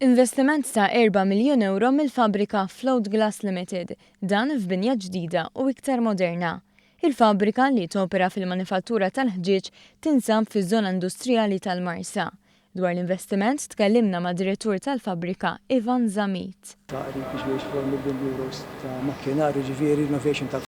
Investiment ta' erba' miljun ewro mill-fabbrika Float Glass Limited, dan f'binja ġdida u iktar moderna. Il-fabbrika, li topera fil-manifattura tal-ħġieġ, tinsab fiż-żona industrijali tal-Marsa. Dwar l-investiment tkellimna mad-direttur tal-fabbrika, Ivan Zammit. Tagħrif biex wieħed jixtri 1 miljun euros ta' makkinarju, jiġifieri renovation ta'.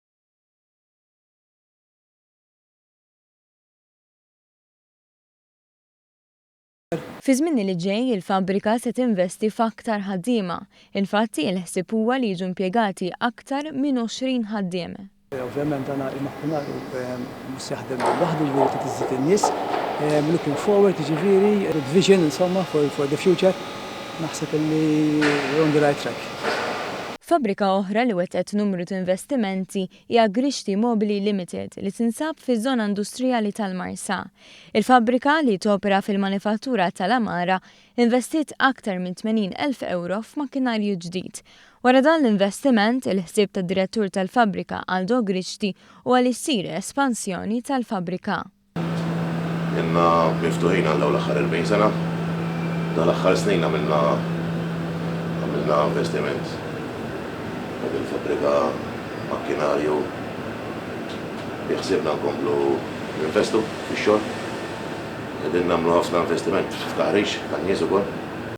Fiż-żmien li ġej, il-fabbrika se tinvesti f'aktar ħaddiema. Infatti, il-ħsieb huwa li jiġu impjegati aktar minn 20 ħaddiem. Ovvjament dan il-makkinarju mhux se jaħdem waħdu, jiġifieri trid iżżid in-nies. Looking forward, jiġifieri good vision insomma for for the future. Naħseb illi we're on the right track. Fabbrika oħra li wettqet numru t'investimenti hija Grixti Mobili Limited li tinsab fiż-żona industrijali tal-Marsax. Il-fabbrika, li topera fil-manifattura tal-għamara, investiet aktar minn 80 elf ewro f'makkinarju ġdid. Wara dan l-investiment, il-ħsieb tad-direttur tal-fabbrika Aldo Grixti huwa li ssir espansjoni tal-fabbrika. Ilna miftuħin għal dawn l-aħħar 40 sena. Dawn l-aħħar snin għamilna għamilna investiment f'din il-fabbrika, makkinarju, Biħsiebna nkomplu ninvestu fix-xogħol. Qegħdin nagħmlu ħafna investiment f'taħriġ tan-nies ukoll.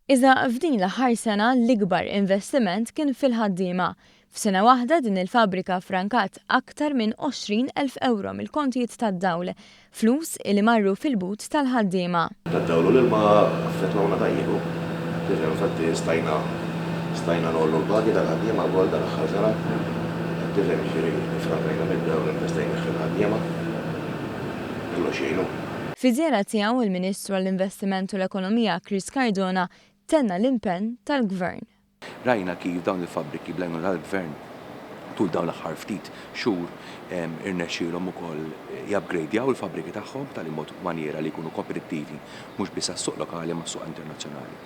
Iżda f'din l-aħħar sena l-ikbar investiment kien fil-ħaddiema. F'sena waħda din il-fabbrika ffrankat aktar minn 20 elf ewro mill-kontijiet tad-dawl. Flus li marru fil-but tal-ħaddiema. Tad-dewlu li ma affettwawna ta' ieħu. Kif infatti stajna stajna ngħollu l-pagi tal-ħaddiema wkoll dal-aħħar sena. Hekk kif hemm jiġri li framrejna mid-dewlu investejnieh fil-ħaddiema. Kollox jgħin hu. Fi żjara tiegħu, il-Ministru għall-Investiment u l-Ekonomija Chris Cardona tenna l-impenn tal-Gvern. Rajna kif dawn il-fabbriki bl-għajnuna tal-Gvern tul dawn l-aħħar ftit xhur irnexxielhom ukoll jupgradjaw il-fabbriki tagħhom b'tali mod u manjiera li jkunu kompetittivi mhux biss għas-suq lokali imma s-suq internazzjonali.